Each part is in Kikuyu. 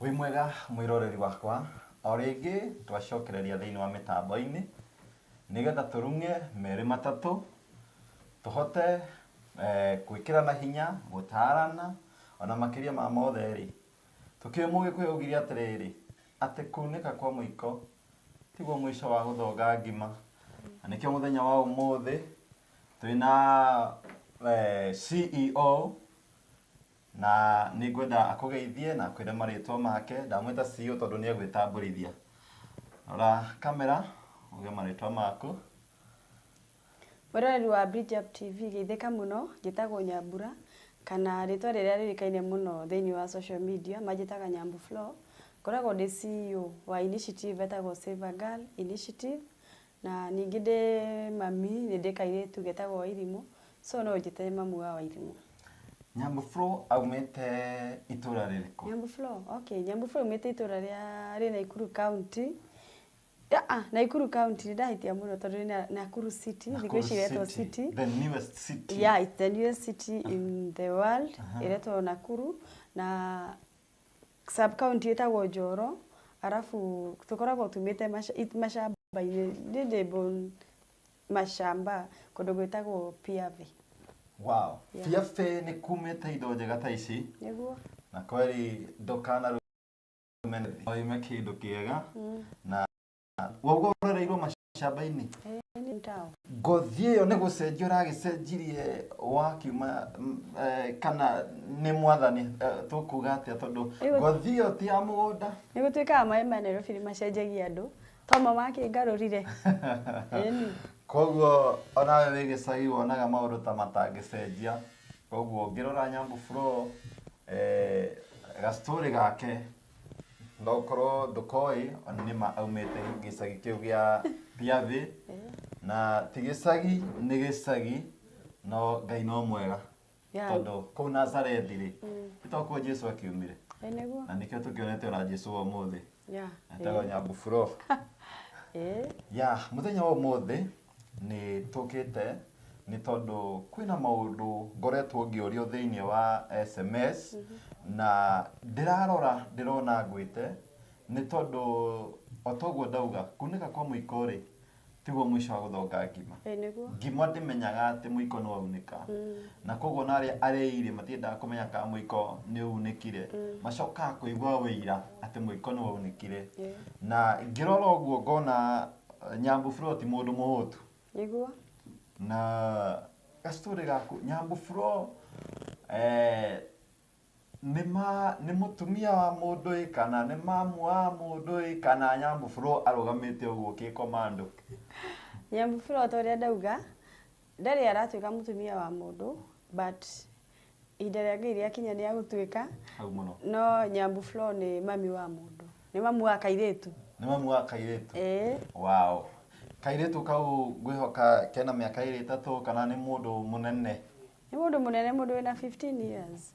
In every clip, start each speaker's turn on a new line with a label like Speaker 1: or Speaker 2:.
Speaker 1: Wĩ mwega mwĩroreri wakwa, o rĩngĩ twacokereria thĩinĩ wa mĩtambo-inĩ nĩgetha tũrung'e merĩ matatũ, tũhote gwĩkĩrana hinya, gũtarana, ona makĩria ma mothe rĩ, tũkĩũĩ mũgĩkũyũ augire atĩrĩrĩ, atĩ kunĩka kwa mũiko tiguo mũico wa gũthonga ngima, na nĩkĩo mũthenya wa ũmũthĩ twĩna CEO Na nĩngwenda akũgeithie na akwĩre marĩtwa make. Ndamwĩta CEO tondũ nĩegwĩtambũrithia. Rora camera uge marĩtwa maku. Mwĩroreri wa Bridge Up TV, geithĩka mũno. Njĩtagwo Nyambura, kana rĩtwa rĩrĩa rĩũĩkaine mũno thĩinĩ wa social media manjĩtaga Nyambu Flo. Ngoragwo ndĩ CEO wa initiative ĩtagwo Save a Girl Initiative, Na ningĩ ndĩ mami nĩ ndĩ kairĩtu getagwo Wairimũ so no ũnjĩte mamu wa Wairimũ. Nyambu Flo aumĩte itũra rĩrĩkũ? Nyambu Flo, okay. Nyambu Flo aumĩte itũra rĩa rĩ Naikuru County. Aa, Naikuru County nĩ ndahĩtia mũno tondũ nĩ Na- Nakuru City, thikũ Nakuru ici iretwo City, City. The newest city. Yeah, it's the newest city in the world, ĩretwo Nakuru na sub county ĩtagwo Njoro, arabu tũkoragwo tumĩte macamba-inĩ, niĩ ndĩ born macamba kũndũ gwĩtagwo Piave. Wow. Yeah. Piave nĩ kumĩte indo njega ta ici. Nĩguo. Na kweri ndũkana rũmene. Oime kĩndũ kĩega mm. na we uga uroreirwo macamba-inĩ Eh, nĩ mtawa. ngothi ĩyo nĩ gũcenjia ũragĩcenjirie wakiuma mm, eh, kana nĩ mwathani eh, tũkuga atĩa tondũ Ĩyo- ngothi ĩyo ti ya mũgũnda nĩ gũtuĩkaga maĩ ma nairobi nĩ macenjagia andũ toma makĩngarũrire Ĩni. koguo onawe wĩ gĩcagi wonaga maũndũ ta matangĩcenjia koguo ũngĩrora nyambu bro eh, gastori gake no korwo ndũkoĩ ona nĩ ma aumĩte gĩcagi kĩu gĩa Thiathĩ na ti gĩcagi nĩ gĩcagi no Ngai no mwega Yeah. tondũ kũu Nazarethi rĩ nĩ to kuo Jesu akiumire Ĩ nĩguo na nĩkĩo tũkĩonete ona Jesu wa ũmũthĩ yeah. etagwo Nyambuburo Ĩ. ya mũthenya wa ũmũthĩ Nĩ tũkĩte nĩ tondũ kwĩna maũndũ ngoretwo ngĩũrio thĩinĩ wa SMS na ndĩrarora ndĩrona ngwĩte nĩ tondũ o ta ũguo ndauga kunĩka kwa mũiko rĩ tiguo mũico wa gũthonga ngima. Ĩĩ nĩguo. Ngima ndĩmenyaga atĩ mũiko nĩ waunĩka. Na kwoguo ona arĩa arĩi rĩ matiendaga kũmenya kana mũiko nĩ unĩkire. Macokaga kũigua ũira atĩ mũiko nĩ waunĩkire. Na ngĩrora ũguo ngona Nyambũfro ti mũndũ mũhũtu nĩguo na gacitorĩ gaku Nyambũfro eh, nĩ ma nĩ mũtumia wa mũndũ ĩ kana nĩ mamu wa mũndũ ĩ kana Nyambũfro arũgamĩte ũguo kĩkomando nyambũbura o ta ũrĩa ndauga Ndarĩ aratuĩka mũtumia wa mũndũ but ihinda rĩa Ngai rĩakinya nĩ agũtuĩka. Hau mũno. No Nyambu Flo nĩ mami wa mũndũ. Nĩ mamu wa kairĩtu. Nĩ mamu wa kairĩtu? Ĩĩ. Wow. Kairĩtu kau ngwĩhoka kena mĩaka ĩrĩ ĩtatũ kana nĩ mũndũ mũnene? Nĩ mũndũ mũnene, mũndũ wĩna 15 years.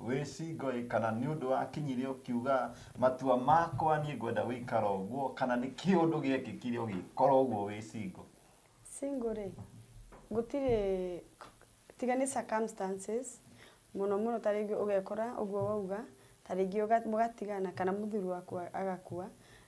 Speaker 1: Wĩ Singoĩ, kana nĩ ũndũ wakinyire ũkiuga matua makwa niĩ ngwenda gũikara ũguo, kana nĩ kĩũndũ gĩekĩkire ũgĩkora ũguo wĩ singo? Single rĩ, gũtirĩ tiga nĩ circumstances, mũno mũno ta rĩngĩ ũgekora ũguo wauga, ta rĩngĩ ũga mũgatigana kana mũthuri waku agakua,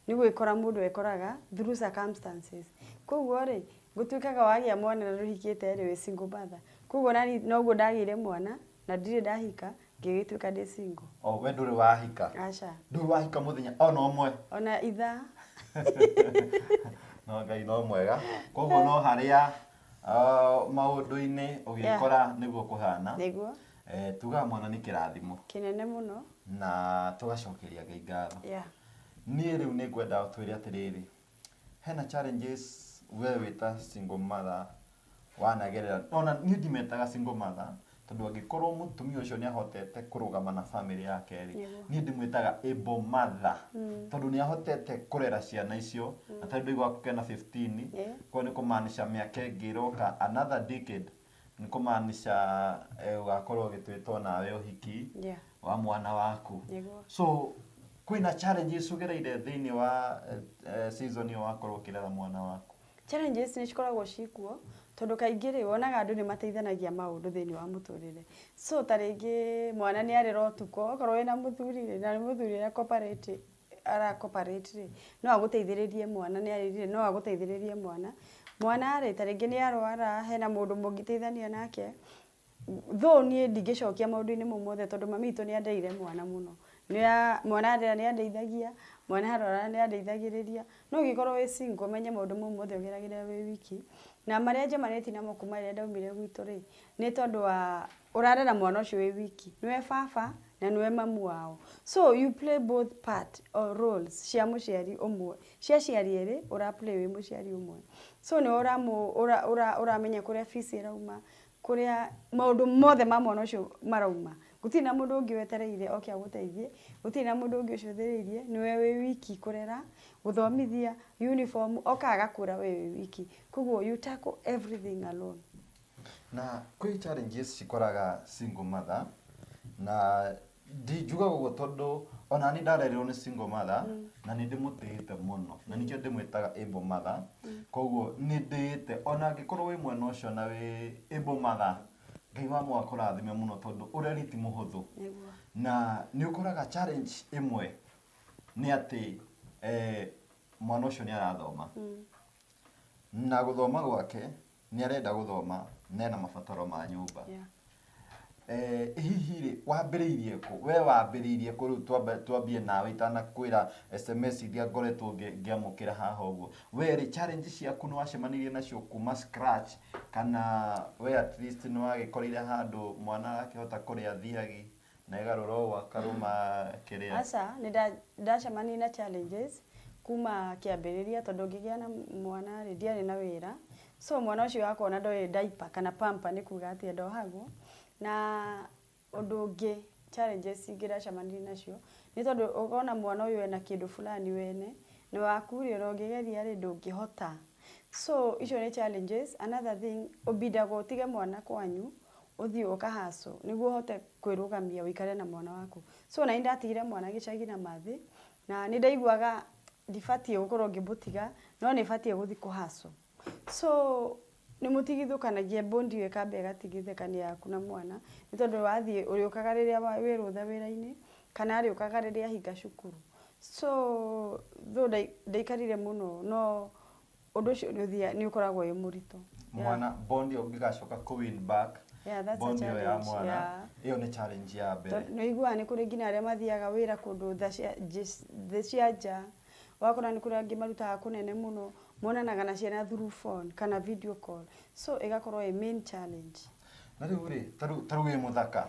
Speaker 1: nĩ gwĩkora mũndũ ekoraga through circumstances. Koguo rĩ, gũtuĩkaga wagĩa mwana na ndũhikĩte rĩ wĩ single mother? Koguo naniĩ noguo ndagĩire mwana, Na ndirĩ ndahika, ngĩgĩtuĩka ndĩ single. Oh, we ndũrĩ wahika. Aca. Ndũrĩ wahika mũthenya ona ũmwe. Ona ithaa. no ngai no mwega koguo no harĩa uh, maũndũ-inĩ ũgĩkora nĩguo kũhana nĩguo eh, tugaga mwana nĩ kĩrathimo kĩnene mũno na tũgacokeria ngai ngatho yeah. niĩ rĩu nĩ ngwenda twĩre atĩrĩrĩ Hena challenges we wĩta single mother wanagerera? Ona niĩ ndimetaga single mother, tondũ angĩkorwo mũtumia ũcio nĩ ahotete kũrũgama na family yake rĩ, Nĩguo. niĩ ndĩmwĩtaga able mother. Tondũ nĩ ahotete kũrera ciana icio, na tarĩu ndũiguaga kũgĩa na 15, Yeah. koguo nĩ kũmaanisha mĩaka ĩngĩ ĩroka another decade Nĩ kũmaanisha eh, ũgakorwo ũgĩtwĩta o nawe ũhiki Yeah. wa mwana waku Nĩguo. so kwĩna challenges ũgereire thĩinĩ wa eh, eh, season ĩyo wakorwo ũkĩrera mwana waku challenges nĩ cikoragwo cikuo tondũ kaingĩ rĩ wonaga andũ nĩ mateithanagia maũndũ thĩinĩ wa mũtũrĩre so ta rĩngĩ mwana nĩ arera ũtukũ okorwo wĩna mũthuri rĩ na nĩ mũthuri ũrĩa cooperative ara cooperate rĩ, no agũteithĩrĩrie mwana nĩ arĩrire no agũteithĩrĩrie mwana. Mwana rĩ, ta rĩngĩ nĩ arũara, hena mũndũ mũngĩteithania nake, though niĩ ndingĩcokia maũndũ-inĩ mau mothe tondũ mami witũ nĩ andeire mwana mũno. Nĩ a, mwana arĩra nĩ andeithagia, mwana arũara nĩ andeithagĩrĩria. No ũngĩkorwo wĩ single ũmenye maũndũ mau mothe ũgeragĩre wĩ wiki. Na marĩa njomanĩtie namo kuuma rĩrĩa ndaumire gwitũ rĩ, nĩ tondũ wa Ũrarera mwana ũcio wĩ wiki. Nĩwe baba na nĩwe mamu wao. So you play both part or roles cia mũciari ũmwe. Cia aciari erĩ, ũra play wĩ mũciari ũmwe. So nĩwe ũramũ ũra ũra ũramenya kũrĩa fees ĩrauma, kũrĩa maũndũ mothe ma mwana ũcio marauma. Gũtirĩ na mũndũ ũngĩ wetereire oke agũteithie, gũtirĩ na mũndũ ũngĩ ũcũthĩrĩirie, nĩwe wĩ wiki kũrera, gũthomithia, uniform, oka agakũra wee wĩ wiki. Koguo you tackle everything alone. Na kwĩ challenges cikoraga single mother, na ndingiugaga ũguo tondũ o na niĩ ndarererwo nĩ single mother, na nĩ ndĩmũtĩĩte mũno, na nĩkĩo ndĩmwĩtaga able mother, kũguo nĩ ndĩĩte, o na angĩkorwo wĩ mwena ũcio na wĩ able mother, Ngai wa mũũa akũrathime mũno tondũ ũreri ti mũhũthũ. Na nĩ ũkoraga challenge ĩmwe nĩ atĩ mwana ũcio nĩ arathoma, na gũthoma gwake nĩ arenda gũthoma na ena mabataro ma nyũmba Yeah. Eh, hihi rĩ wambĩrĩirie kũ we wambĩrĩirie kũ rĩu twambe- twambie nawe itanakwĩra sms iria ngoretwo ngĩ- ngĩamũkĩra haha ũguo we rĩ challenge ciaku nĩ wacemanirie nacio kuma scratch kana we at least nĩ wagĩkorire handũ mwana arakĩhota kũrĩa thiagi Na ĩgarũra o gwaka rũma kĩrĩa. Aca, nĩndacemanirie na challenges kuma kĩambĩrĩria tondũ ngĩgĩa na mwana rĩ, ndiarĩ na wĩra, so mwana ũcio wakwa ndoĩ diaper kana pamper nĩ kuga atĩa ndohagwo, na ũndũ ũngĩ challenges ingĩ ndacemanirie nacio, nĩ tondũ ũkona mwana ũyũ ena kĩndũ fulani wene, na waku rĩ, ona ũngĩgeria rĩ, ndũngĩhota. So icio nĩ challenges. Another thing, ũbindagwo ũtige mwana kwanyu, ũthiĩ ũka hustle nĩguo ũhote kwĩrũgamia ũikare na mwana waku so na ndatigire mwana gĩcagi na mathĩ na nĩ ndaiguaga ndibatiĩ gũkorwo ngĩmũtiga no nĩ batiĩ gũthiĩ kũ hustle so nĩ mũtigithũkanagia bond ĩyo ĩkamba ĩgatigithũkania yaku na mwana nĩ tondũ wathiĩ ũrĩũkaga rĩrĩa wĩ rũtha wĩra-inĩ kana arĩũkaga rĩrĩa ahinga cukuru so though ndaikarire mũno no ũndũ ũcio nĩ ũthia nĩ ũkoragwo wĩ mũritũ Yeah. mwana bond ĩyo ũngĩgacoka kũ win back Yeah, that's a bond ĩyo ya challenge, mwana yeah. ĩyo nĩ challenge ya mbere Tondũ nĩ ũiguaga nĩ kũrĩ nginya arĩa mathiaga wĩra kũndũ tha cia- njĩ- thĩ cia nja wakora nĩ kũrĩ angĩ marutaga kũnene mũno monanaga na ciana through phone kana video call so ĩgakorwo ĩ main challenge na rĩu rĩ ta rĩu- ta rĩu wĩ mũthaka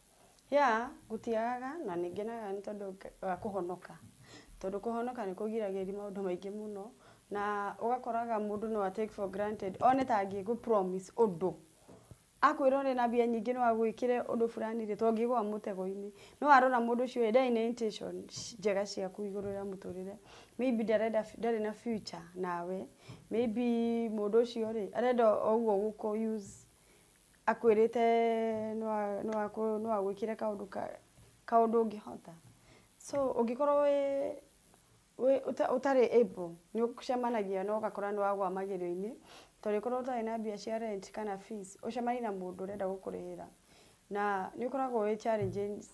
Speaker 1: Yeah, gũtiagaga na nĩ ngenaga nĩ tondũ wa kũhonoka. Tondũ kũhonoka nĩ kũgiragĩrĩria maũndũ maingĩ mũno, na ũgakoraga mũndũ no a take for granted one ta angĩgũ promise ũndũ, akwĩra ũrĩ na mbia nyingĩ no agwĩkĩre ũndũ fulani rĩ, to ũngĩgwa mũtego-inĩ. No warora mũndũ ũcio ĩ, ndarĩ na intention njega ciaku igũrũ rĩa mũtũrĩre. Maybe ndarenda ndarĩ na future nawe, maybe mũndũ ũcio rĩ, arenda o ũguo gũkũ use Akwĩrĩte no a- no akũ- no agwĩkĩre kaũndũ ka- kaũndũ ũngĩhota. So ũngĩkorwo wĩ- wĩ- ũta- ũtarĩ able, nĩũcemanagia na ũgakora nĩwagwa magerio-inĩ, to ũrĩkorwo ũtarĩ na mbia cia rent kana fees, ũcemanie na mũndũ ũrenda gũkũrĩhĩra, na nĩũkoragwo wĩ challenges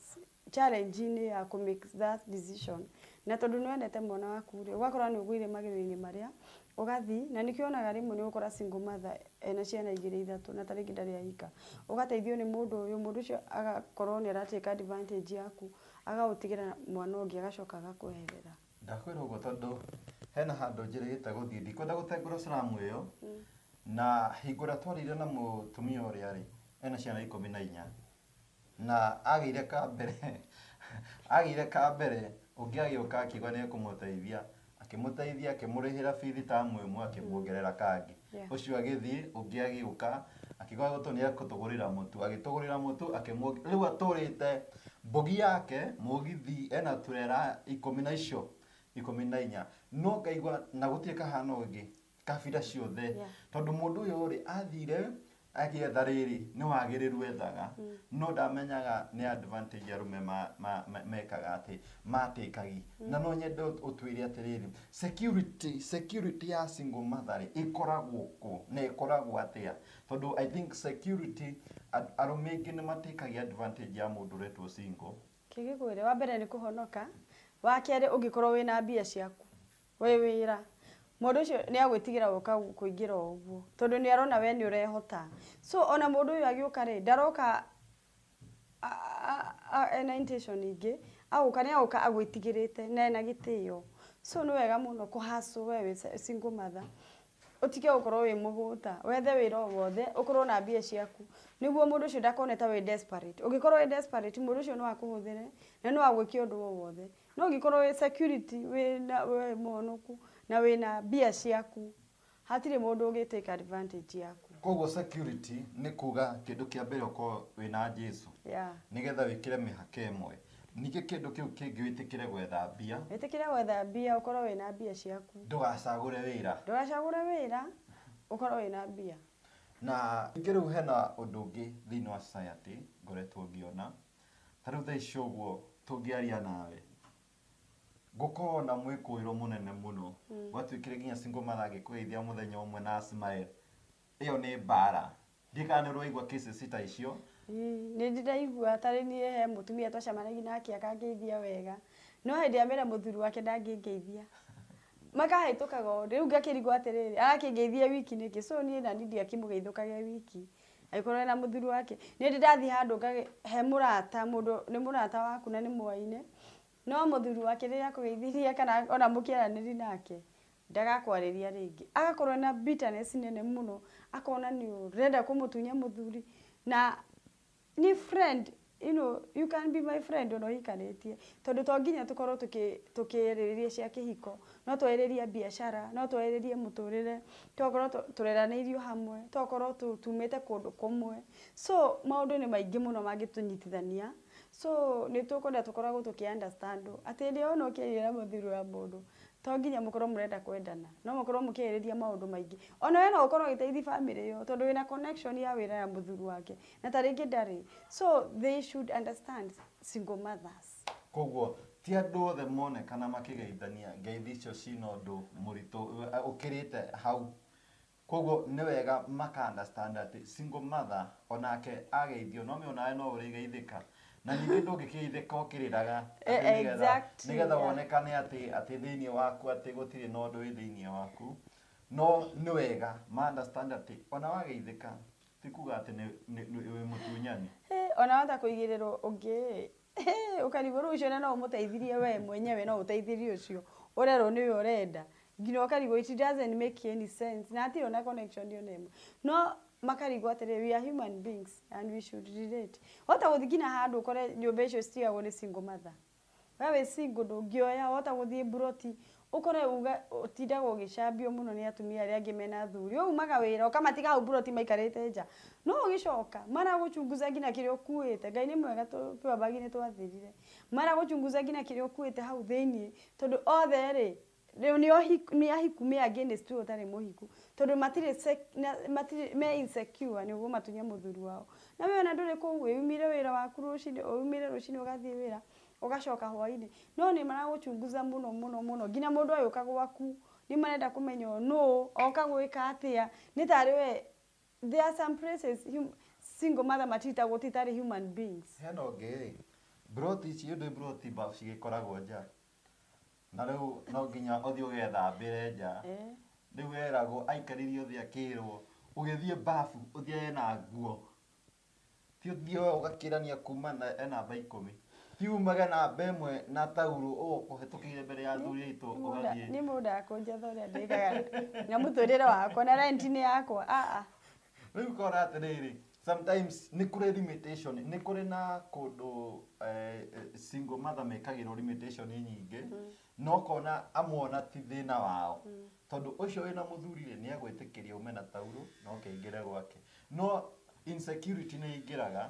Speaker 1: challenge -inĩ ya kũ make that decision na tondũ nĩ wendete mwana waku rĩ, ũgakora nĩ ũgũire magerio-inĩ marĩa, ũgathiĩ, na nĩkĩo wonaga rĩmwe nĩ ũgũkora single mother ena ciana igĩrĩ ithatũ na ta rĩngĩ ndarĩ ahika, ũgateithio nĩ mũndũ ũyũ, mũndũ ũcio agakorwo nĩ ara take advantage yaku, agagũtigĩra mwana ũngĩ agacoka agakweherera. Ndakwĩra ũguo tondũ hena handũ njĩrĩgĩte gũthiĩ, ndikwenda gũtengũra slam ĩyo, na hingo ĩrĩa twarĩire na mũtumia ũrĩa rĩ, ena ciana ikũmi na inya, Na agĩire ka mbere, agĩire ka mbere, ũngĩ agĩũka akiuga nĩ ekũmũteithia, akĩmũteithia, akĩmũrĩhĩra bithi tamu ĩmwe, akĩmuongerera kangĩ. Yeah. Ũcio agĩthiĩ, ũngĩ agĩũka, akiuga gũtũ nĩ ekũtũgũrĩra mũtu, agĩtũgũrĩra mũtu, akĩmuongerera, rĩu atũrĩte mbũgi yake, mũgithi, ena turera ikũmi na icio, ikũmi na inya. No ngaigua, na gũtirĩ kahana ũngĩ. kabira ciothe Yeah. tondũ mũndũ ũyũ rĩ athire agĩetha rĩrĩ nĩ wagĩrĩru ethaga no ndamenyaga nĩ advantage arũme ma- ma- ma- mekaga atĩ matĩkagi na no nyende ũt- ũtwĩre atĩrĩrĩ security security ya single mother rĩ ĩkoragwo kũ na ĩkoragwo atĩa tondũ i think security a- arũme aingĩ nĩ matĩkagia advantage ya mũndũ ũretwo single kĩgĩkwĩre wa mbere nĩ kũhonoka wa kerĩ ũngĩkorwo wĩna mbia ciaku Wĩ wĩra. Mũndũ ũcio nĩ agwĩtigĩra gũka kũingĩra o ũguo. Tondũ nĩ arona we nĩ ũrehota. So ona mũndũ ũyũ agĩũka rĩ, ndaroka ena intention ingĩ, agũka nĩ agũka agwĩtigĩrĩte na ena gĩtĩo. So nĩ wega mũno kũ hustle we wĩ single mother. Ũtige gũkorwo wĩ mũgũta, wethe wĩra o wothe, ũkorwo na mbia ciaku, nĩguo mũndũ ũcio ndakone ta wĩ desperate. Ũngĩkorwo wĩ desperate, mũndũ ũcio no akũhũthĩre, na no agwĩke ũndũ o wothe. No ũngĩkorwo wĩ security, wĩna wĩ mũhũnũku, na wĩna mbia ciaku, hatirĩ mũndũ ũngĩ take advantage yaku. Koguo security nĩ kuuga kĩndũ kĩa mbere ũkorwo wĩna Jesu. Yeah. Nĩgetha wĩkĩre mĩhaka ĩmwe. Ningĩ kĩndũ kĩu kĩngĩ wĩtĩkĩre gwetha mbia. Wĩtĩkĩre gwetha mbia ũkorwo wĩna mbia ciaku. Ndũgacagũre wĩra. Ndũgacagũre wĩra ũkorwo wĩna mbia. Na ningĩ rĩu hena ũndũ ũngĩ thĩinĩ wa society ngoretwo ngĩona. Ta rĩu thaa ici ũguo tũngĩaria nawe, gũkoragwo na mwĩkũĩro mũnene mũno. Gwatuĩkire nginya single mother angĩkũgeithia mũthenya ũmwe na a smile. Ĩyo nĩ mbaara. Ndikano rwaigua kisses ta icio. Nĩ ndĩraigua ta rĩ niĩ he mũtumia twacemanagia nake akangeithia wega, no hĩndĩ ĩrĩa mera mũthuri wake ndangĩngeithia, makahĩtũkaga ũũ, rĩu ngakĩrigwo atĩrĩrĩ, arakĩngeithia wiki nĩkĩ? So niĩ naniĩ ndingĩakĩmũgeithũkagĩra wiki, angĩkorwo ena mũthuri wake. Nĩ ndĩ ndathiĩ handũ he mũrata, mũndũ nĩ mũrata waku na nĩ mwaine, no mũthuri wake rĩrĩa akũgeithirie kana ona mũkĩaranĩria nake, Ndagakwarĩria rĩngĩ. Agakorwo ena bitterness nene mũno, akona nĩ ũrenda kũmũtunya mũthuri, na nĩ friend, you know, you can be my friend ona ũhikanĩtie. Tondũ to nginya tũkorwo tũkĩarĩrĩria cia kĩhiko, no twarĩrĩrie biacara, no twarĩrĩrie mũtũrĩre, tokorwo tũreranĩirio hamwe, tokorwo tumĩte kũndũ kũmwe. So maũndũ nĩ maingĩ mũno mangĩtũnyitithania, so nĩ tũkwenda tũkoragwo tũkĩ understand wo. Atĩ ĩndĩ ona ũkĩaria na mũthuri wa mũndũ, To nginya mũkorwo mũrenda kwendana. No mũkorwo mũkĩarĩrĩria maũndũ maingĩ. Ona we no ũkorwo ũgĩteithia family ĩyo tondũ wĩna connection ya wĩra ya mũthuri wake. Na ta rĩngĩ ndarĩ. So they should understand single mothers. Kwoguo ti andũ othe monekana makĩgeithania ngeithi icio cina ũndũ mũritũ ũkĩrĩte hau. Kwoguo nĩ wega maka understand atĩ single mother o nake ageithio no me onawe no ũrĩgeithĩka. Na ningĩ ndũngĩkĩgeithĩka ũkĩrĩraga atĩ nĩgetha Exactly, nĩgetha yeah. wonekane atĩ atĩ thĩiniĩ waku atĩ gũtirĩ na ũndũ wĩ thĩiniĩ waku. No nĩ wega ma understand atĩ ona wageithĩka ti kuga atĩ nĩ nĩ nĩ wĩ mũtunyani. Hĩ, ona wahota kũigĩrĩrwo ũngĩ-ĩ, Ĩhĩ, ũkarigwo rĩu ũcio ũrĩa no ũmũteithirie we mwenyewe no ũteithĩrie ũcio ũrerwo nĩwe ũrenda nginya ũkarigwo it doesn't make any sense na hatirĩ ona connection ona ĩmwe no makarigwo atĩrĩ we are human beings and we should relate wahota gũthiĩ nginya handũ ũkore nyũmba icio citigagwo nĩ single mother we wĩ single ndũngĩoya wahota gũthiĩ mburoti Ũkore uga ũtindaga ũgĩcambio mũno nĩ atumia arĩa angĩ mena athuri. Waumaga wĩra ũkamatiga hau mburoti maikarĩte nja. No ũgĩcoka, maragũchunguza nginya kĩrĩa ũkuĩte. Ngai nĩ mwega tũrĩ abagi nĩ twathirire. Maragũchunguza nginya kĩrĩa ũkuĩte hau thĩiniĩ. Tondũ othe rĩ, rĩu nĩ ohiku, nĩ ahiku me against ũyũ ũtarĩ mũhiku. Tondũ matirĩ sec, na matirĩ, me insecure nĩ ũkũmatunye mũthuri wao. Na we ona ndũrĩ kũu, wĩyumĩre wĩra waku rũcinĩ, ũyumĩre rũcinĩ ũgathiĩ wĩra. Ũgacoka hwainĩ. No nĩ maragũchunguza mũno mũno mũno. Nginya mũndũ agĩũka gwaku, nĩ marenda kũmenya ũyũ nũũ, oka gwĩka atĩa. Nĩ tarĩ we, there are some places single mother matreatagwo ti tarĩ human beings. Hena ũngĩ rĩ, mburoti ici, yũĩ ndũĩ mburoti mbabu cigĩkoragwo nja? Na rĩu no nginya ũthiĩ ũgethambĩre nja. Rĩu eragwo, aikaririo thĩ akĩrwo, ũgĩthiĩ mbabu ũthiage na nguo. Thiĩ ũthiĩ we ũgakĩrania kuma na e namba ikũmi. Thiĩ umage namba ĩmwe na tauro ũkũhĩtũkĩire mbere ya athuri aitũ ũgathiĩ. Nĩ mũndũ akũnjetha ũrĩa ndĩkaga na mũtũrĩre wakwa na rent nĩ yakwa. Ah ah. Rĩu ũkona atĩrĩrĩ, sometimes nĩ kũrĩ limitation, nĩ kũrĩ na kũndũ eh, single mother mekagĩrwo limitation nyingĩ, na ũkona amwe ona ti thĩna wao. Tondũ ũcio wĩna mũthuri rĩ nĩegwĩtĩkĩria ume na tauro na ũke ingĩre gwake. No insecurity nĩ ĩngĩraga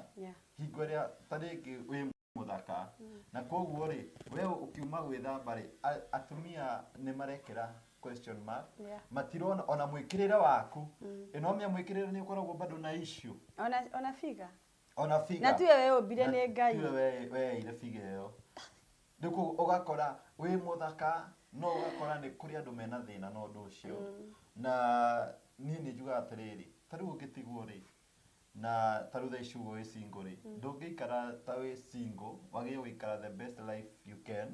Speaker 1: hingo ĩrĩa ta rĩngĩ wĩ mũthaka na kogũo rĩ we ũkiuma gwĩthamba rĩ atumia nĩ marekĩra question mark matirona ona mwĩkĩrĩre waku. Ĩ no ũmĩe mwĩkĩrĩre nĩ ũkoragwo bado na issue? Ona figure? Ona figure. Na tiwe weũmbire Na nĩ Ngai. tiwe we- weeire figa ĩyo nĩ kũ ũgakora wĩ mũthaka no ũgakora nĩ kũrĩ andũ mena thĩna na ũndũ ũcio na niĩ nĩ njugaga atĩrĩrĩ ta rĩu ũngĩtigwo rĩ na ta rĩu thaa ici ũguo wĩ single rĩ ndũngĩikara ta wĩ single wagĩrĩirwo gũikara the best life you can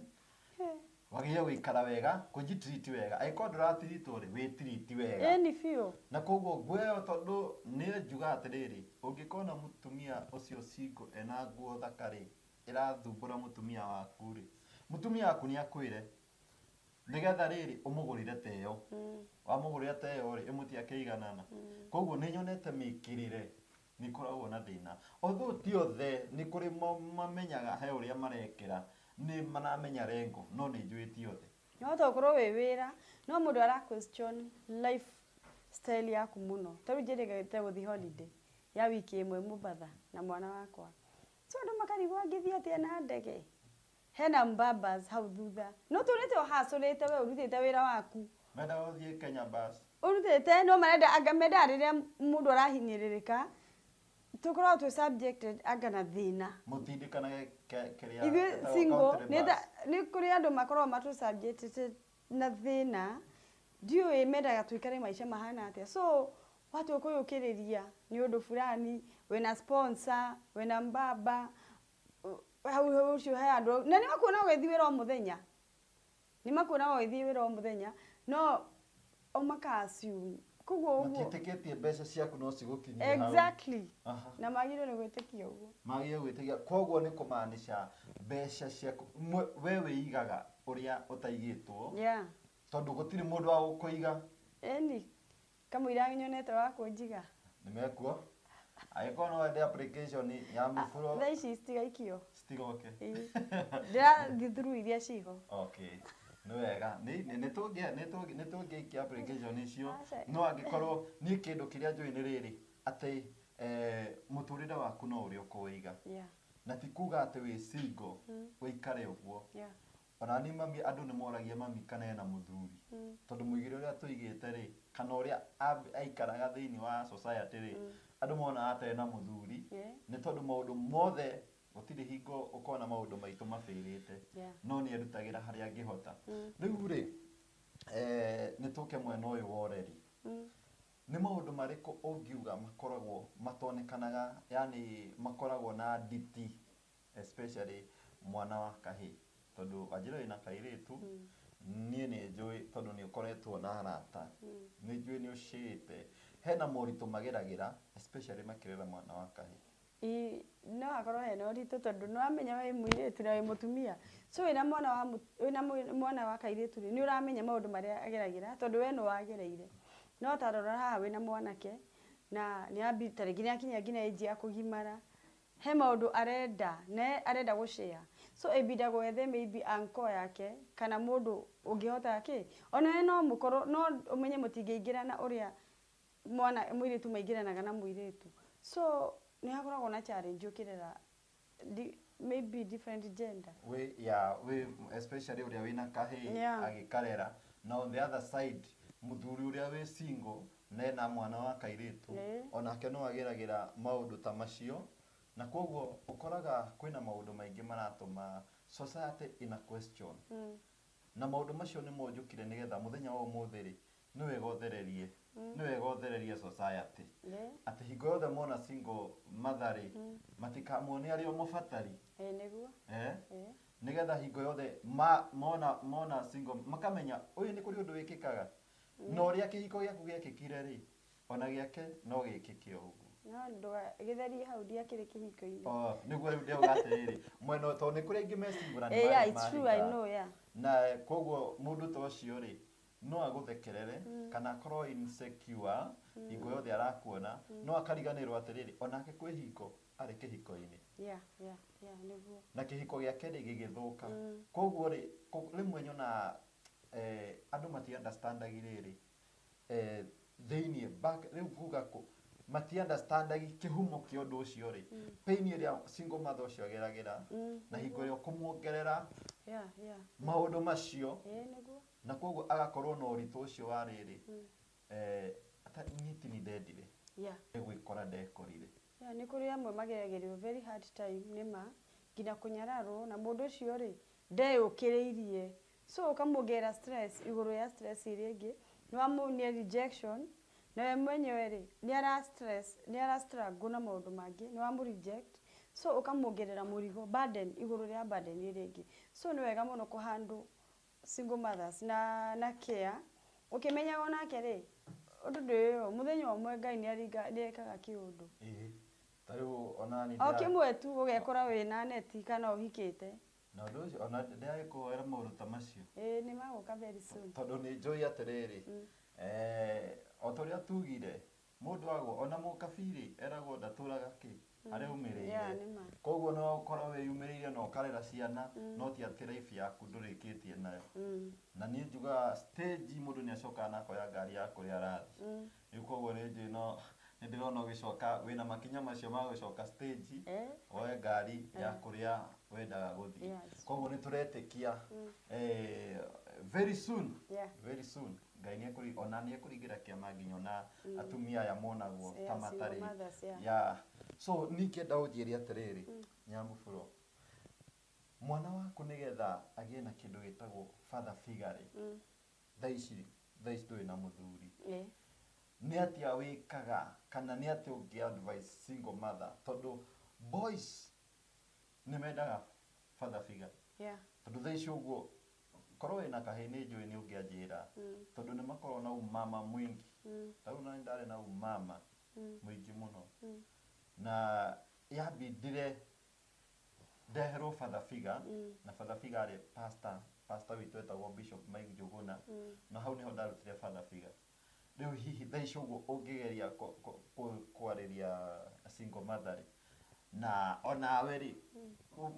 Speaker 1: Wagĩrĩirwo gũikara wega, kũnjitreat wega. Angĩkorwo ndũratreatwo rĩ, wĩtreat wega. Ĩni biũ. Na koguo nguo ĩyo tondũ nĩ njuga atĩrĩrĩ, ũngĩkona mũtumia ũcio single ena nguo thaka rĩ, ĩrathumbũra mũtumia waku rĩ, mũtumia waku nĩ akwĩre, nĩgetha rĩrĩ, ũmũgũrĩre ta ĩyo. Wamũgũrĩra ta ĩyo rĩ, ĩmũtĩ akĩiganana. Koguo nĩ nyonete mĩkĩrĩre Nĩ ĩkoragwo na thĩna. Although ti othe, nĩ kũrĩ mamenyaga he ũrĩa marekĩra, nĩ maramenya rengo, no nĩ njũĩ ti othe. No tokorwo wĩ wĩra, no mũndũ ara question life style yaku mũno. Ta rĩu njĩrĩgĩrĩte gũthiĩ holiday ya wiki ĩmwe Mombatha na mwana wakwa. So andũ makarigwo angĩthiĩ atĩa na ndege? Hena Mbabas hau thutha. Nũtũrĩte ũhacũrĩte we ũrutĩte wĩra waku. Mendaga ũthiĩ Kenya bus. Ũrutĩte no marenda anga mendaga rĩrĩa mũndũ arahinyĩrĩrĩka tũkoragwo twĩ subjected anga na thĩna. Mũtindĩkanage ke kĩrĩa Ithuĩ etagwo single country nĩ ta bus. nĩ kũrĩ andũ makoragwo matũ subjected na thĩna ndiũĩ mendaga tũikare maica mahana atĩa so watua kũyũkĩrĩria nĩ ũndũ burani wĩna sponsor wĩna mbaba hau hau ũcio he andũ au na nĩ makuonaga ũgĩthiĩ wĩra o mũthenya nĩ makuonaga ũgĩthiĩ wĩra o mũthenya no o maka assume koguo ũguo matiĩtĩkĩtie mbeca ciaku no cigũkinyie hau exactly Aha. na magĩrĩirwo nĩ gwĩtĩkia ũguo magĩrĩirwo gwĩtĩkia koguo nĩ kũmaanisha mbeca ciaku mwe- we wĩigaga ũrĩa ũtaigĩtwo yeah tondũ gũtirĩ mũndũ wa gũkũiga ĩni Kamũira nyonete wa kũnjiga. Nĩ mekuo. Angĩkorwo no wende application ya mĩburo. Thaa ici citigaikio. Citigoke. Ndĩrathiĩ through iria ciĩ ho. Okay. Nĩ wega. Nĩ tũngĩikia application icio. No angĩkorwo niĩ kĩndũ kĩrĩa njũĩ nĩ rĩrĩ, atĩ mũtũrĩre waku no ũrĩ ũkũwĩiga. Na ti kuga atĩ wĩ single ũikare ũguo. Onani mami andũ nĩmoragia mami kana ena mũthuri tondũ mũigĩre ũrĩa tũigĩte rĩ kana ũrĩa aikaraga thĩinĩ wa society rĩ andũ monaga ata ena mũthuri nĩ tondũ maũndũ mothe gũtirĩ hingo ũkona maũndũ maitũ mabĩrĩte no nĩerutagĩra harĩa angĩhota rĩu rĩ nĩtũke mwena ũyũ wa ũreri nĩ maũndũ marĩkũ ũngiuga makoragwo matonekanaga yaani makoragwo na nditi Especially mwana wa kahĩĩ. Tondũ wanjĩra wĩna kairĩtu, niĩ nĩ njũĩ tondũ nĩ ũkoretwo na arata, nĩ njũĩ nĩ ũcĩĩte. Hena moritũ mageragĩra especially makĩrera mwana wa kahĩĩ. Ii, no hakorwo hena ũritũ tondũ nĩ ũramenya wĩ mũirĩtu na wĩ mũtumia, so wĩna mwana wa wĩna mwana wa kairĩtu rĩ, nĩ ũramenya maũndũ marĩa ageragĩra tondũ we nĩ wagereire. No ta rora haha wĩna mwanake, na nĩ ta rĩngĩ nĩ akinyia nginya age ya kũgimara, He maũndũ arenda na arenda gũ share so ĩbinda gwethe maybe uncle yake kana mũndũ ũngĩhota kĩ ona we no mũkorwo no ũmenye mũtingĩingĩrana ũrĩa mwana mũirĩtu maingĩranaga na mũirĩtu so nĩ hakoragwo na challenge ũkĩrera maybe different gender. Wĩ ya wĩ especially ũrĩa wĩna kahĩĩ Yeah. agĩkarera na on the other side mũthuri ũrĩa wĩ single Mena mwana wa kairĩtu, o nake no ageragĩra maũndũ ta macio, na kwoguo ũkoraga kwĩna maũndũ maingĩ maratũma society ĩna question. Na maũndũ macio nĩmo njũkire nĩgetha mũthenya wa ũmũthĩ rĩ, nĩ wega ũthererie, nĩ wega ũthererie society. Atĩ hingo yothe mona single mother rĩ, matikamone arĩ o mũbatari. Nĩgetha hingo yothe mona mona single, makamenya ũyũ nĩ kũrĩ ũndũ wĩkĩkaga, Na ũrĩa kĩhiko gĩaku gĩekĩkire-rĩ, o na gĩake no gĩĩkĩke o ũguo. No ndũgagĩtherie hau ndiakĩrĩ kĩhiko-inĩ. Oo, nĩguo rĩu ndĩrauga atĩrĩrĩ, mwena ũyũ tondũ nĩ kũrĩ aingĩ mecingũrani Eh, yeah, marĩ it's true, I mahika. know, yeah. Na kwoguo mũndũ ta ũcio-rĩ, no agũthekerere, kana akorwo insecure, hingo yothe arakuona, no akariganĩrwo atĩrĩrĩ, o nake kwĩ hingo arĩ kĩhiko-inĩ. Yeah, yeah, yeah, nĩguo. Na kĩhiko gĩake-rĩ, gĩgĩthũka. Kwoguo-rĩ, kũ- rĩmwe nyonaga eh, andũ mati understandagi rĩrĩ eh, thĩinĩ back rĩu kuga kũ mati understandagi kĩhumo kĩa ũndũ ũcio rĩ pain ĩrĩa single mother ũcio ageragĩra na hingo ĩrĩa kũmuongerera Yeah, yeah. maũndũ macio Ĩĩ nĩguo. na koguo agakorwo na ũritũ ũcio wa rĩrĩ eh, ata- nyiti nĩ ndendire Yeah. nĩ gwĩkora ndekorire Yeah nĩ kũrĩ amwe mageragĩrio very hard time nĩma nginya kũnyararwo na mũndũ ũcio rĩ ndeyũkĩrĩirie so ũkamuongerera stress igũrũ ya stress ĩrĩa ĩngĩ nĩwamuonia rejection na we mwenyewe rĩ nĩ ara stress nĩ ara strangle na maũndũ mangĩ nĩwamũ reject so ũkamuongerera mũrigo burden igũrũ rĩa burden ĩrĩa ĩngĩ so nĩ wega mũno kũ handle Single mothers, na, na care, ũkĩmenyaga o nake rĩ, ũndũ ndũĩ ũũ, mũthenya ũmwe Ngai nĩ aringa, nĩ ekaga kĩũndũ. Ĩhĩ, ta rĩu o na niĩ O ndĩra- kĩmwe tu, ũgekora wĩ na neti kana ũhikĩte. Na ũndũ ũcio, o na ndĩragĩkũhoera maũndũ ta macio. Ĩĩ, nĩ magũka very soon. Tondũ nĩ njũĩ atĩrĩrĩ, eh, o ta ũrĩa tuugire, Mũndũ agwa ona mũkabiirĩ eragwo ndatũraga kĩ? Areyumĩrĩire. Koguo nĩ wagũkorwo wĩyumĩrĩire na ũkarera ciana no ti atĩ life yaku ndũrĩkĩtie nayo. Na niĩ njugaga stage mũndũ nĩ acokaga na akoya ngari ya kũrĩa arathiĩ. Rĩu koguo nĩ njũĩ no nĩ ndĩrona ũgĩcoka wĩna makinya macio ma gũcoka stage woe ngari ya kũrĩa wendaga gũthiĩ. Koguo nĩ tũretĩkia very soon very soon Ngai nĩ ekũri, ona nĩ ekũringĩra kĩama nginya ona atumia aya monagwo ta Yeah, single matarĩ, mothers, yeah. yeah. So niĩ ingĩenda ũnjĩre atĩrĩrĩ, Nyambũbũro, mwana waku nĩgetha agĩe na kĩndũ gĩtagwo father figure rĩ, thaa ici, thaa ici ndũrĩ na mũthuri, Ĩĩ. nĩ atĩa wĩkaga kana nĩ atĩa ũngĩ advice single mother tondũ boys Nĩ mendaga father figure. Yeah. Tondũ thaa ici ũguo, korwo wĩna kahĩĩ nĩ njũĩ nĩ ũngĩanjĩra. Tondũ nĩ makoragwo na ũmama mũingĩ. Ta rĩu naniĩ ndarĩ na ũmama mũingĩ mũno. Na yabindire ndeherwo father figure, na father figure arĩ pastor, pastor witũ etagwo Bishop Mike Njũgũna. Na hau nĩho ndarutire father figure. Rĩu hihi thaa ici ũguo ũngĩgeria kwarĩria single mother rĩ, na onawe rĩ,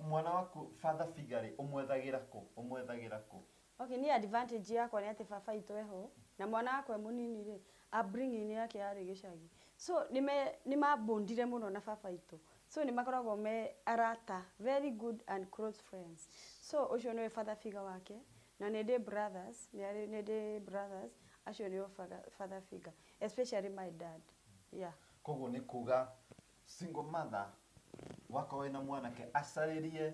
Speaker 1: mwana waku father figure rĩ, ũmwethagĩra kũ? Ũmwethagĩra kũ? Okay, niĩ advantage yakwa nĩ atĩ baba witũ eho, na mwana wakwa e mũnini rĩ, upbringing yake yarĩ gĩcagi. So nĩ ma bond ire mũno na baba witũ. So nĩ makoragwo me arata, very good and close friends. So ũcio nĩwe father figure wake. Na nĩndĩ brothers, nĩarĩ, nĩndĩ brothers, acio nĩo faga, father figure, especially my dad, yeah. Koguo nĩ kuga single mother wakorwo wĩna mwanake acarĩrie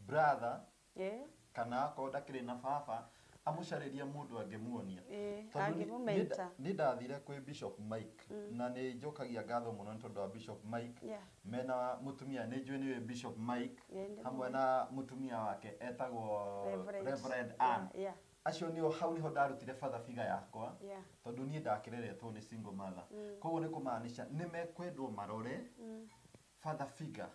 Speaker 1: brother Ĩĩ. kana akorwo ndakĩrĩ na baba amũcarĩrie mũndũ angĩmuonia. Ĩĩ, Tondũ nĩ- angĩmũ nĩ- mentor. Nĩ ndathire kwĩ Bishop Mike na nĩ njokagia ngatho mũno nĩ tondũ wa Bishop Mike Yeah. Mena mũtumia nĩ njũĩ nĩwe Bishop Mike Ĩĩ, ndĩmũĩ. hamwe na mũtumia wake etagwo Reverend. Reverend Yeah, Ann. yeah. Acio nĩo hau nĩho ndarutire father figure yakwa Yeah. tondũ niĩ ndakĩreretwo nĩ single mother. Koguo nĩ kũmaanisha nĩ mekwendwo marore father figure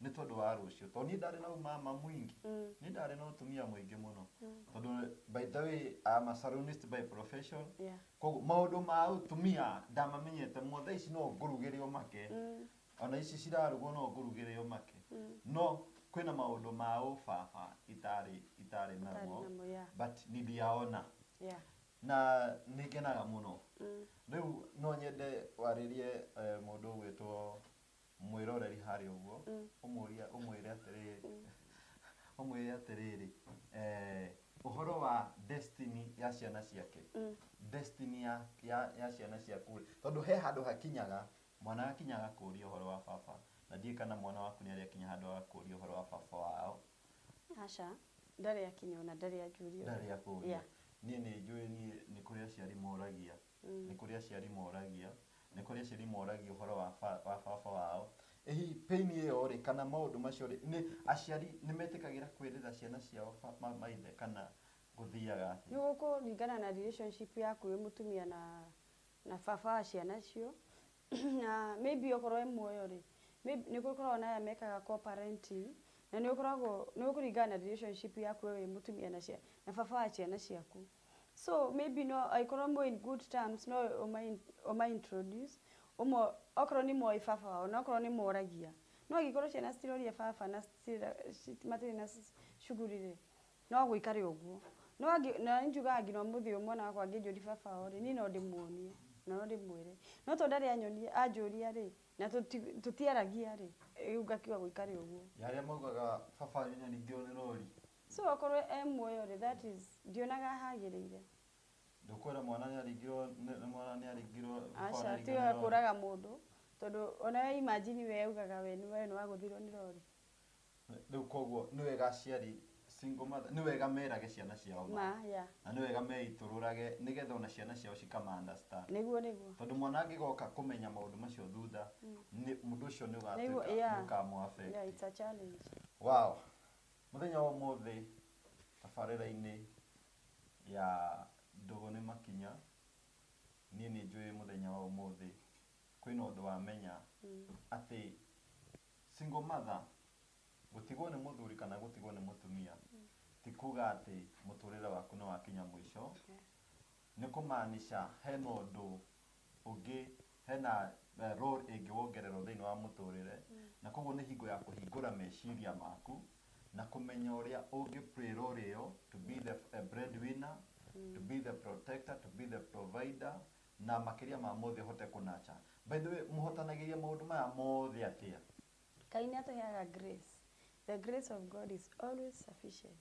Speaker 1: nĩ tondũ wa rũciũ. Tondũ niĩ ndarĩ na ũmama mũingĩ. Niĩ ndarĩ na ũtumia mũingĩ mũno. Tondũ by the way I'm a salonist by profession. Yeah. Koguo maũndũ ma ũtumia ndamamenyete mũno, thaa ici no ngũrugĩre ũmake, ona ici cirarugwo no ngũrugĩre ũmake, no kwĩna maũndũ ma ũbaba itarĩ itarĩ namo, Ũtarĩ namo, yeah. but nĩndiaona Yeah. na nĩ ngenaga mũno. Rĩu no nyende warĩrie eh, mũndũ ũgwĩtwo mwĩroreri harĩa ũguo, ũmũrie, ũmwĩre atĩrĩrĩ, ũmwĩre atĩrĩrĩ, eh, ũhoro wa destiny ya ciana ciake, destiny ya, ya, ya ciana ciaku rĩ, tondũ he handũ hakinyaga, mwana agakinya agakũria ũhoro wa baba, na ndiũĩ kana mwana waku nĩarĩ akinya handũ agakũria ũhoro wa baba wao, Aca, ndarĩ akinya ona ndarĩ anjũria ũndũ. ndarĩ akũria. Yeah. Niĩ nĩ njũĩ niĩ nĩ kũrĩ aciari moragia Nĩ kũrĩ aciari moragia, nĩ kũrĩ aciari moragia ũhoro wa wa baba wao. Ĩ hihi pain ĩyo-rĩ, kana maũndũ macio-rĩ, nĩ aciari nĩ metĩkagĩra kwĩrĩra ciana ciao maithe kana gũthiaga atĩa? Nĩ gũkũringana na relationship yaku wĩ mũtumia na na baba wa ciana icio. Na maybe okorwo e muoyo-rĩ, maybe nĩ gũkoragwo na aya mekaga co-parenting, na nĩ ũkoragwo, nĩ gũkũringana na relationship yaku wee wĩ mũtumia na na baba wa ciana ciaku. so maybe no angĩkorwo mwĩ in good terms no ũma ũma introduce ũmo okorwo nĩ mũĩ baba wao na okorwo nĩ mũragia no angĩkorwo ciana citiroria baba na citira ci matirĩ na shughuli rĩ no gũikare ũguo no angĩ na nĩ njugaga nginya ũmũthĩ ũyũ mwana wakwa angĩnjũria baba wao rĩ niĩ no ndĩmuonie na no ndĩmwĩre no tondũ ndarĩ anyonia anjũria rĩ na tũti tũtiaragia rĩ rĩu ngakiuga gũikare ũguo. Nĩ arĩa maugaga baba wanyu nĩ aningĩrwo nĩ rori. Sure akorwo e muoyo rĩ that is ndionaga hagĩrĩire. Ndũkwĩra mwana nĩaringirwo nĩ nĩ mwana nĩaringirwo baba Aca nĩaringirwo tiwe nĩ rori. akũraga mũndũ tondũ ona we imagine we augaga we nĩ we nĩ wagũthirwo nĩ rori. Rĩu koguo nĩ wega aciari single mother nĩ wega merage ciana ciao ma. Ma yeah. Na nĩ wega meitũrũrage nĩgetha ona ciana ciao cikama understand. Nĩguo nĩguo. Tondũ mwana angĩgoka kũmenya maũndũ macio thutha nĩ mũndũ ũcio nĩ Nĩguo ũgatuĩka nĩ yeah. ũkamũ affect. Yeah it's a challenge. Wow! Mũthenya wa ũmũthĩ tabarĩra-inĩ ya Ndũgũ nĩ Makinya, niĩ nĩ njũĩ mũthenya wa ũmũthĩ kwĩna ũndũ wamenya atĩ single mother, gũtigwo nĩ mũthuri kana gũtigwo nĩ mũtumia ti kuga atĩ mũtũrĩre waku nĩ wakinya mũico. Nĩ kũmaanisha hena ũndũ ũngĩ, hena role ĩngĩ wongererwo thĩinĩ wa mũtũrĩre, na koguo nĩ hingo ya kũhingũra meciria maku, na kũmenya ũrĩa ũngĩ play role ĩyo to be the bread winner, to be the protector, to be the provider, na makĩria ma mothe ũhote kũ nurture. By the way, mũhotanagĩria maũndũ maya mothe atĩa? Ngai nĩ atũheaga grace. The grace of God is always sufficient.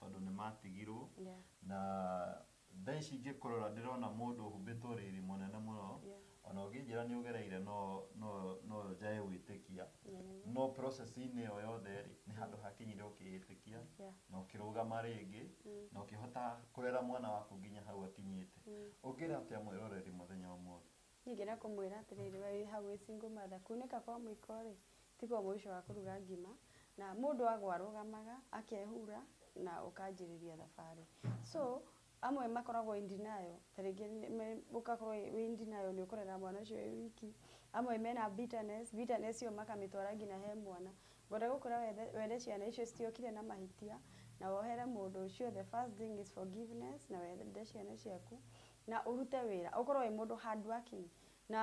Speaker 1: tondũ nĩ maatigirũo. Yeah. Na thaa ici ingĩkũrora ndĩrona mũndũ ũhumbĩtwo riri mũnene mũno. Yeah. O na ũngĩnjĩra nĩ ũgereire no, no, no njae gwĩtĩkia. Na nĩ ma. No process-inĩ ĩyo yothe-rĩ, nĩ handũ hakinyire ũkĩĩtĩkia. Yeah. Na ũkĩrũgama rĩngĩ. Mm. Na ũkĩhota kũrera mwana waku nginya hau akinyĩte. Mm. Ũngĩra atĩa mwĩroreri mũthenya wa ũmũthĩ? Ningĩ na kũmwĩra atĩrĩrĩ, we wĩ hau wĩ single mother, kuunĩka kwa mũiko-rĩ, tiguo mũico wa kũruga ngima, na mũndũ agwa arũgamaga, akehura, na ũkanjĩrĩria thabarĩ. So, amwe makoragwo in denial, ta rĩngĩ ũgakorwo wĩ in denial nĩ ũkũrera mwana ũcio wĩ wiki, amwe mena bitterness, bitterness ĩyo makamĩtwara nginya he mwana. Ngwenda gũkwĩra wethe were ciana icio citiokire na mahĩtia, na wohere mũndũ ũcio, the first thing is forgiveness, na wende ciana ciaku, Na ũrute wĩra, ũkorwo wĩ mũndũ hardworking, na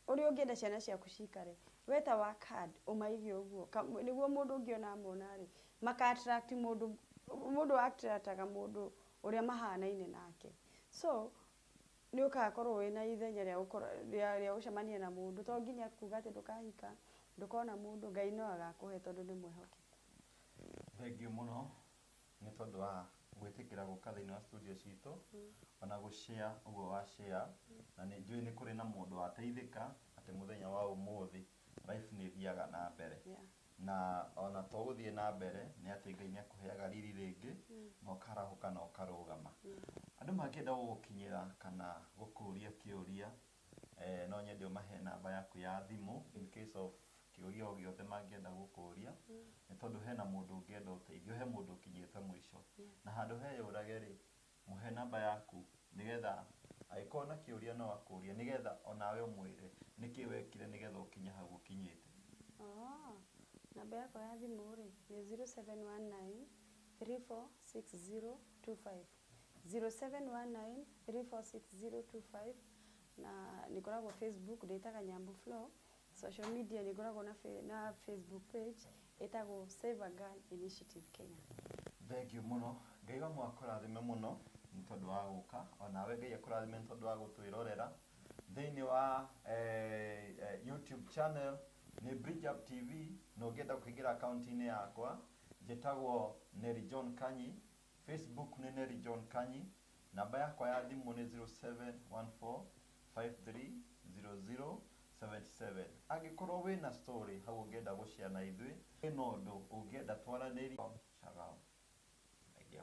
Speaker 1: ũrĩa ũngĩenda ciana ciaku cikare. We ta work hard, ũmaige ũguo. Nĩguo mũndũ ũngĩ ona amona rĩ, maka attract mũndũ, mũndũ a attract aga mũndũ ũrĩa mahanaine nake. So, nĩ ũgakorwo wĩna ithenya rĩa rĩa rĩa gũcemania na mũndũ. To nginya kuuga atĩ ndũkahika, ndũkona mũndũ, Ngai no agakũhe tondũ nĩ mwĩhokeku. Thengiũ mũno. nĩ tondũ wa gwĩtĩkĩra gũka thĩinĩ wa studio citũ ona gũ share ũguo wa share na nĩ njũĩ nĩ kũrĩ na mũndũ wateithĩka atĩ mũthenya wa ũmũthĩ life nĩ ĩthiaga na mbere Yeah. na ona to gũthiĩ na mbere nĩ atĩ Ngai nĩ akũheaga riri rĩngĩ na ũkarahũka na ũkarũgama andũ mangĩenda gũgũkinyĩra kana gũkũria kĩũria Eh, no nyende ũmahe namba yaku ya thimũ in case of kĩũria o gĩothe mangĩenda gũkũria nĩ tondũ hena mũndũ ũngĩenda ũteithio he mũndũ ũkinyĩte mũico na handũ he yũrage rĩ mũhe namba yaku nĩgetha agĩkorwo na kĩũria no akũrie nĩgetha onawe ũmwĩre nĩkĩ wekire nĩgetha ũkinye hau ũkinyĩte Oh, namba yakwa ya thimũ rĩ nĩ 0719 346025. 0719346025 na nĩngoragwo Facebook ndĩtaga Nyambu Flo, social media nĩngoragwo na fe- na Facebook page ĩtagwo Save a Girl Initiative Kenya. Thengiũ mũno. Ngai wa mũhaka kũrathime mũno nĩ tondũ wa gũka. O nawe Ngai akũrathime nĩ tondũ wa gũtwĩrorera. Thĩinĩ wa eh, eh, YouTube channel nĩ Bridge Up TV na ũngĩenda kũingĩra akaunti-inĩ yakwa njĩtagwo Nelly John Kanyi Facebook nĩ Nelly John Kanyi. Namba yakwa ya thimũ nĩ 0714530077. Angĩkorwo wĩ na story hau ũngĩenda gũ share na ithuĩ, wĩ na ũndũ ũngĩenda twaranĩrie, shagamu. Thengiũ.